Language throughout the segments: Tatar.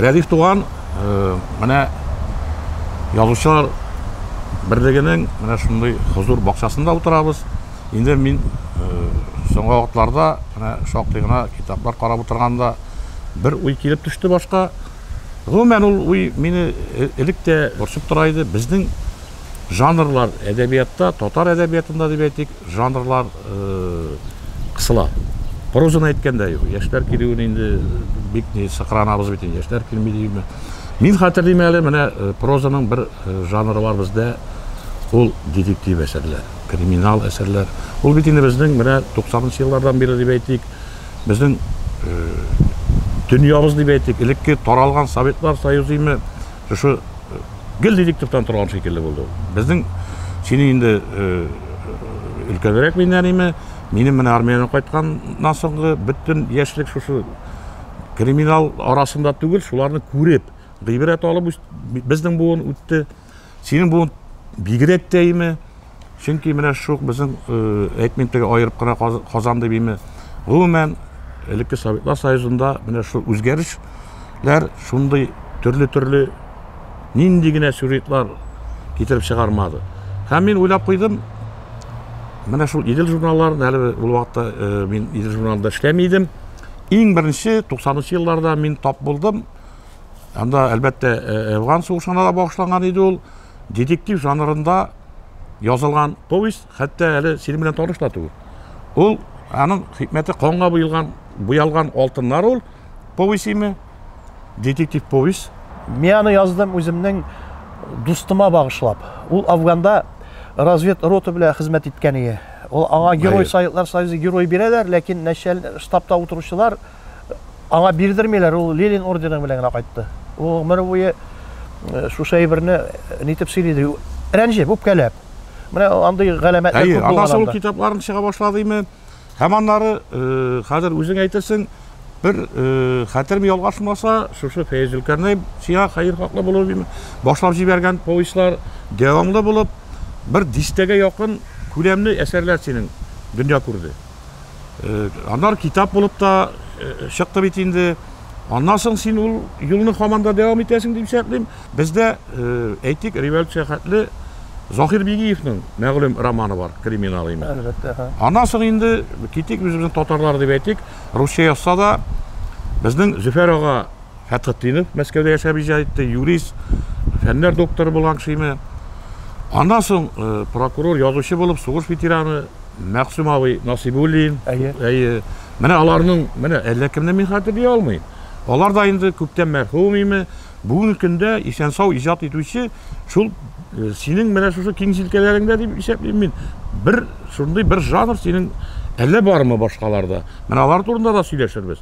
Рәдиф туган, э, менә язучылар берлегенең менә шундый хозур бакчасында утырабыз. Инде мин э, соңгы вакытларда менә шактый гына китаплар карап утырганда бер уй килеп төште башка. Гомумән, ул уй мине элек тә борчып тора иде. Безнең жанрлар әдәбиятта, татар әдәбиятында дип әйтик, жанрлар кысыла. Прозаны әйткәндә юк. Яшьләр килүен инде бик ни сыкранабыз бит, яшьләр килми дигезме. Мин хәтерлим әле, менә прозаның бер жанры бар бездә, ул детектив әсәрләр, криминал әсәрләр. Ул бит инде безнең менә 90 нчы еллардан бирле дип әйтик, безнең э, дөньябыз дип әйтик, элекке таралган Советлар Союзы име, шушы э, гел дидик төптән торган шикелле булды ул. Безнең сине инде э, өлкәнрәк миннән име, минем менә армиядән кайтканнан соңгы бөтен яшьлек шушы криминал арасында түгел, шуларны күреп, гыйбрәт алып безнең буын үтте. Синең бу бигрәк тә име? Чөнки менә шук безнең әйтмим теге аерып кына Казан дип име. Гомумән, элекке Советлар Союзында менә шул үзгәрешләр шундый төрле-төрле нинди генә сюжетлар китереп чыгармады. Һәм мин уйлап куйдым, менә шул Идел журналларын, әле ул вакытта мин Идел журналында эшләми идем. Иң беренче 90 елларда мин тап булдым, Анда, әлбәттә, Әфган сугышына да багышланган иде ул. Детектив жанрында язылган повесть, хәтта әле синең белән таныш та түгел. Ул аның хикмәте канга буялган, буялган алтыннар ул повестеме? Детектив повесть. Мин аны яздым үземнең дустыма багышлап. Ул Афганда развед рота белән хезмәт иткән иде. Ул аңа герой Советлар Союзы герой бирәләр, ләкин начальник штабта утыручылар аңа бирдермиләр, ул Ленин ордены белән генә кайтты. Ул гомер буе э, шушы әйберне э, нитеп сөйлиде, рәнҗеп, үпкәләп. Менә андый галәмәтләр күп булган. Аннан соң китапларын чыга башлады име? Һәм аннары э, хәзер үзең әйтерсең, бер хәтерем ялгашмаса, шушы Фәйз Зөлкәрнәй сиңа хәер хаклы булып башлап җибәргән повестьлар дәвамлы булып бер дистәгә якын күләмле әсәрләр синең дөнья күрде. Аннар китап булып та чыкты бит инде. Аннан соң син ул юлны хаман да дәвам итәсең дип шәтлим. Бездә әйтик, революция хәтле Захир Бигиевның мәгълүм романы бар, криминал име. Әлбәттә, ха. Аннан соң инде китик үзебезнең татарлар дип әйтик, русча язса да безнең Зөфәр ага Фәтхетдинов Мәскәүдә яшәп иҗат итте, юрист, фәннәр докторы булган кешеме. Аннан соң э, прокурор, язучы булып сугыш ветераны Мәгъсүм абый Насибуллин. Әйе. Әйе. Менә аларның, менә әллә кемне мин хәтерли алмыйм. Алар да инде күптән мәрхүм име. Бүгенге көндә исән-сау иҗат итүче шул э, синең менә шушы киң җилкәләреңдә дип исәплим мин. Бер шундый бер жанр синең әллә бармы башкаларда? Менә алар турында да сөйләшербез.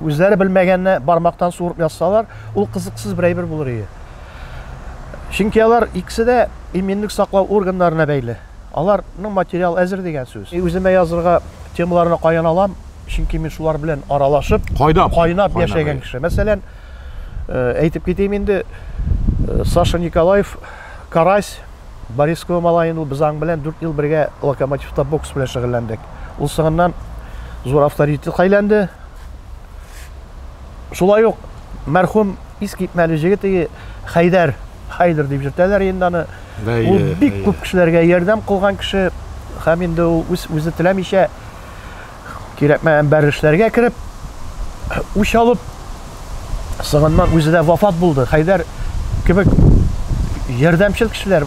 Үзләре белмәгәнне бармактан суырып язсалар, ул кызыксыз бер әйбер булыр иде. Чөнки алар икесе дә иминлек саклау органнарына бәйле. Аларның материал әзер дигән сүз. Үземә язырга темаларны каян алам? Чөнки мин шулар белән аралашып, кайнап, кайнап яшәгән кеше. Мәсәлән, э, әйтеп китим инде, э, Саша Николаев, Карась, Борисково малаен ул без аң белән дүрт ел бергә Локомотивта бокс белән шөгыльләндек. Ул соңыннан зур авторитетка әйләнде. Шулай ук мәрхүм искитмәле җегет иге Хәйдәр, Хәйдер дип йөртәләр инде аны. Ул бик күп кешеләргә ярдәм кылган кеше һәм инде ул үз үзе теләмичә Кирәкмәгән бер эшләргә кереп, үч алып, соңыннан үзе дә вафат булды. Хәйдәр кебек ярдәмчел кешеләр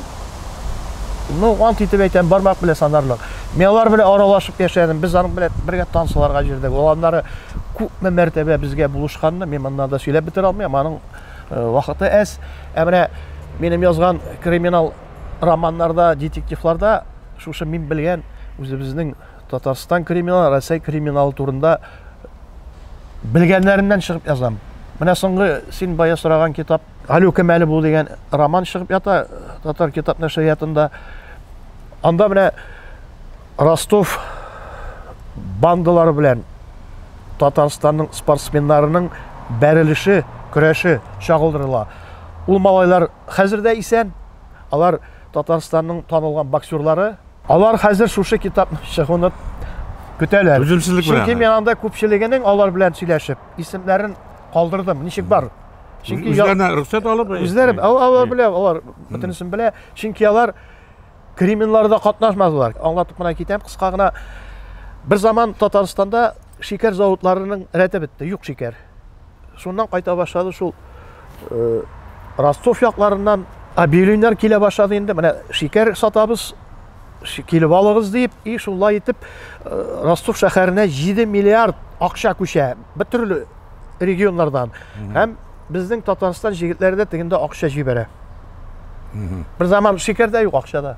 ну, ант итеп әйтәм, бармак белән санарлык. Мин алар белән аралашып яшәдем. Без аның белән бергә танцларга җирдек. Ул аннары күпме мәртәбә безгә булышканны мин монда да сөйләп бетерә алмыйм. Аның э, вакыты әз. Ә менә минем язган криминал романнарда, детективларда шушы мин белгән үзебезнең Татарстан криминалы, Рәсәй криминалы турында белгәннәреннән чыгып язам. Менә соңгы син бая сораган китап Галю Кемәле бу дигән роман чыгып ята татар китап нәшриятында. Анда менә Ростов бандалары белән Татарстанның спортсменнарының бәрелеше, көрәше чагылдырыла. Ул малайлар хәзер дә исән, Алар, Татарстанның танылган боксерлары. Алар хәзер шушы китапның чыгуны көтәләр. Түземсезлек белән. Чөнки мин анда күпчелегенең алар белән сөйләшеп, исемнәрен калдырдым. Ничек бар? Чөнки үзләренә рөхсәт алып, үзләре алар белә, алар бөтенесен белә. Чөнки алар криминларда катнашмадылар. Аңлатып кына китәм, кыска гына. Бер заман Татарстанда шикәр заводларының рәте бетте, юк шикәр. Шуннан кайта башлады шул Ростов якларыннан объявлениеләр килә башлады инде. Менә шикәр сатабыз, килеп алыгыз дип, и шулай итеп Ростов шәһәренә 7 миллиард акча күчә. Бер төрле регионнардан. Һәм безнең Татарстан җегетләре дә тегендә акча җибәрә. Бер заман шикәр дә юк акчада.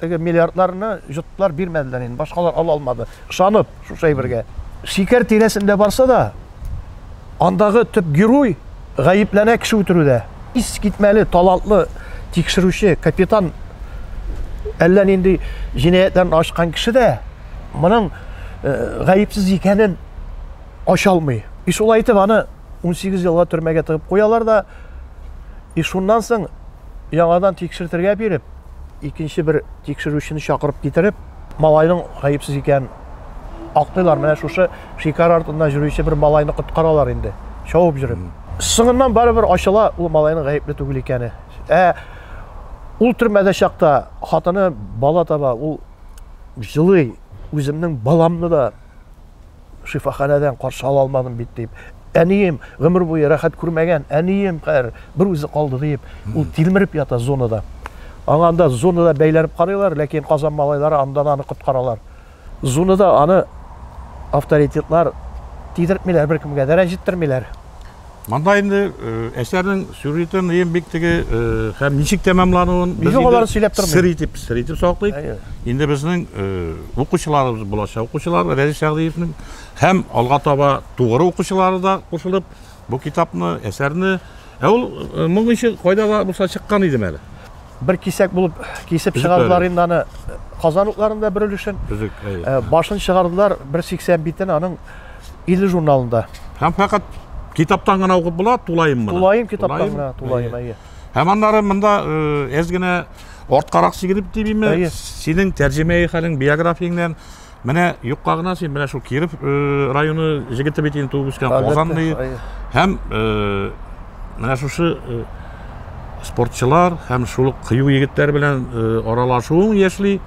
теге миллиардларны йоттылар, бирмәделәр инде, башкалар ала алмады. Ышанып шушы әйбергә. Шикәр тирәсендә барса да, андагы төп герой гаепләнә кеше үтерүдә. Ис китмәле, талантлы тикшерүче, капитан әллә нинди җинаятьләрне ачкан кеше дә моның э, гаепсез икәнен ача алмый. И шулай итеп аны 18 елга төрмәгә тыгып куялар да, и шуннан соң яңадан тикшертергә биреп, икенче бер тикшерүчене чакырып китереп, малайның гаепсез икәнен актыйлар. Менә шушы шикар артында йөрүче бер малайны коткаралар инде, шауып йөреп. Соңыннан барыбер ачыла ул малайның гаепле түгел икәне. Ә ул төрмәдә чакта хатыны бала таба, ул җылый, үземнең баламны да шифаханәдән каршы ала алмадым бит дип әнием гомер буе рәхәт күрмәгән әнием хәер бер үзе калды дип ул тилмереп ята зонада аңа анда зонада бәйләнеп карыйлар ләкин казан малайлары анда аны коткаралар зонада аны авторитетлар тидертмиләр беркемгә дә рәнҗеттермиләр Монда инде э, әсәрнең сюжетын ем бик теге э, һәм ничек тәмамлануын без Юк, алар сөйләп тормый. Сер итеп, сер итеп саклыйк. Әйе. Инде безнең э, укучыларыбыз булачак укучылар Рәзис Шәгъдиевнең һәм алга таба тугры укучылары да кушылып бу китапны, әсәрне Ә ул моң ише кайда да булса чыккан идем әле. Бер кисәк булып кисеп чыгардылар инде аны Казан утларында бер өлешен. Э, башын чыгардылар 180 битен аның 50 журналында. Һәм фәкать китаптан гына укып була, тулаем моны. Тулаем китаптан гына, тулаем, әйе. Һәм аннары монда әз э, генә арткарак сигелеп дибиме, синең тәрҗемәи хәлең, биографияңнән Менә юкка гына син менә шул Киров э, районы җегете бит инде туып үскән Казанный һәм э, менә шушы э, спортчылар һәм шул ук кыю егетләр белән аралашуың яшьли.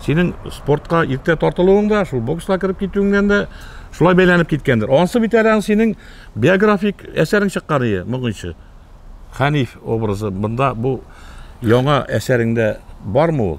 Синең спортка иртә тартылуың да, шул бокска кереп китүеңнән дә шулай бәйләнеп киткәндер. Ансы бит әле синең биографик әсәрең чыккан иде, моңынчы. Хәниф образы. Монда бу яңа әсәреңдә бармы ул?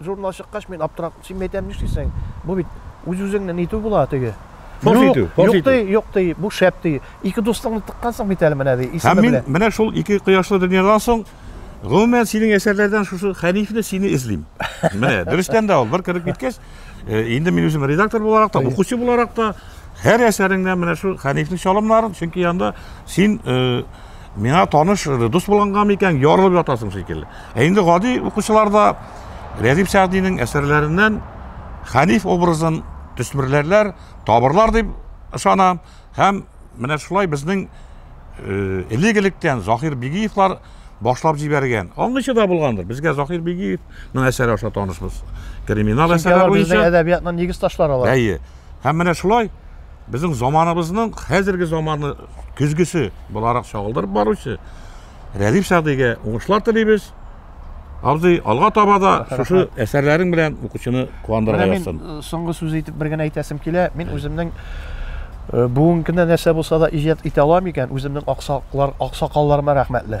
Журнал чыккач, мин аптырап, син әйтәм, нишлисең? Бу бит үз-үзеңне нитү була теге. Фош Юк, итү, фош юк итү. ди, юк ди, бу шәп ди. Ике дустыңны тыккансың бит әле менә ди, Һәм исеме мин белән. менә шул ике кояшлы дөньядан соң, гомумән, синең әсәрләрдән шушы Хәнифне сине эзлим. Менә, дөрестән дә ул, бер кереп киткәч, э, инде мин үзем редактор буларак та, укучы буларак та, һәр әсәреңнән менә шул Хәнифнең чалымнарын, чөнки анда син э, Миңа таныш э, дус булганга микән ярылып ятасың шикелле. Ә инде гади укучыларда Рәдип Сәгъдинең әсәрләреннән Хәниф образын төсмерләрләр, табырлар дип ышанам һәм менә шулай безнең э, элек электән Захир Бигиевлар башлап җибәргән. Аңгычы да булгандыр. Безгә Захир Бигиевның әсәре аша танышбыз. Криминал әсәре буенча. Әдәбиятның нигез ташлары алар. Әйе. Һәм менә шулай безнең заманыбызның хәзерге заманы көзгесе буларак чагылдырып баручы Рәдиф Сәгъдигә уңышлар телибез. Абзый, алга таба да шушы әсәрләрең белән укучыны куандырырга язсын. Менә мин соңгы сүз әйтеп бер генә әйтәсем килә. Мин үземнең бүгенге көндә нәрсә булса да иҗат итә алам икән, үземнең аксаклар, аксакалларыма рәхмәтле.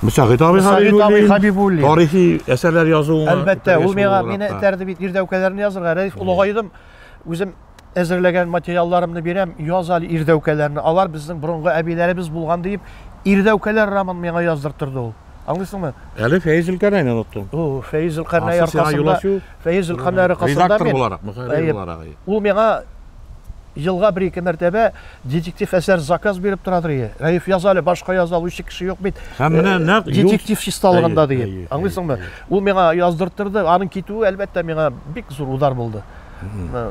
Мөсәгыйт абый Мөсәгыйт абый Хәбибуллин. Тарихи әсәрләр язуыңа. Әлбәттә, ул миңа мине этәрде бит ирдәүкәләрне язырга. Рәис олыгайдым. Үзем әзерләгән материалларымны бирәм, яз әле ирдәүкәләрне. Алар безнең борынгы әбиләребез булган диеп, ирдәүкәләр роман миңа яздыртырды ул. Аңлыйсыңмы? Әле Фәиз Илкәрнәйне оныттың. О, Фәиз Илкәрнәй аркасында. Фәиз Илкәрнәй аркасында. Редактор буларак, мөхәррир буларак. Ул миңа Елга бер-ике мәртәбә детектив әсәр заказ биреп торадыр, ие. Рәиф, яза әле, башка яза алучы кеше юк бит. Һәм менә э, нәкъ детектив чисталыгында диеп. Аңлыйсыңмы? Ул миңа яздырттырды. Аның китүе, әлбәттә, миңа бик зур удар булды. Э,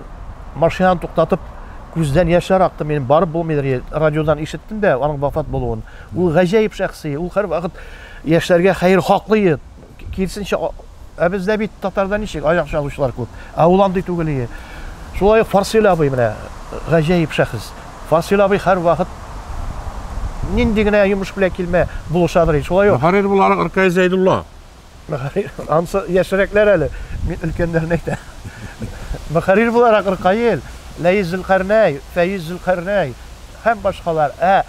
машинаны туктатып, күздән яшьләр акты. Мин барып булмыйдыр, радиодан ишеттем дә аның вафат булуын. Ул гаҗәеп шәхси, ул һәрвакыт яшьләргә хәер хаклый. Кирсенчә, ә бездә бит татарда ничек, аяк чалучылар күп. Ә ул андый түгел ие. Шулай ук Фарсил абый менә гаҗәеп шәхес. Фарсил абый һәрвакыт нинди генә йомыш белән килмә, булышадыр ин. Шулай ук. Мөхәррир буларак Ркай Зәйдулла. Мөхәррир, ансы яшьрәкләр әле, мин өлкәннәрне әйтәм. Мөхәррир буларак Ркаил, Ләис Зөлкарнәй, Фәиз Зөлкарнәй һәм башкалар. Ә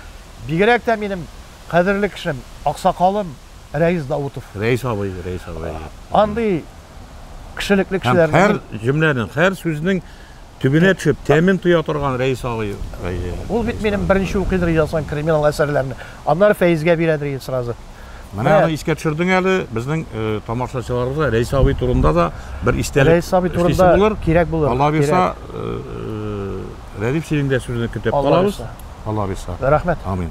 бигрәк тә минем кадерле кешем, аксакалым. Рәис Даутов. Рәис абый, Рәис абый. Андый кешелекле кешеләр. Һәр җөмләнең, һәр сүзнең төбенә төшеп, тәмен тоя торган Рәис абый. Ул бит минем беренче укыйдыр язган криминал әсәрләрне. Аннары Фәизгә бирәдер иде сразу. Менә аны искә төшердең әле, безнең э, тамашачыларыбызга Рәис абый турында да бер истәлек. Рәис абый турында булыр, кирәк булыр. Алла бирса, э, э, Рәдиф синең дә сүзеңне көтеп калабыз. Алла бирса. Рәхмәт. Амин.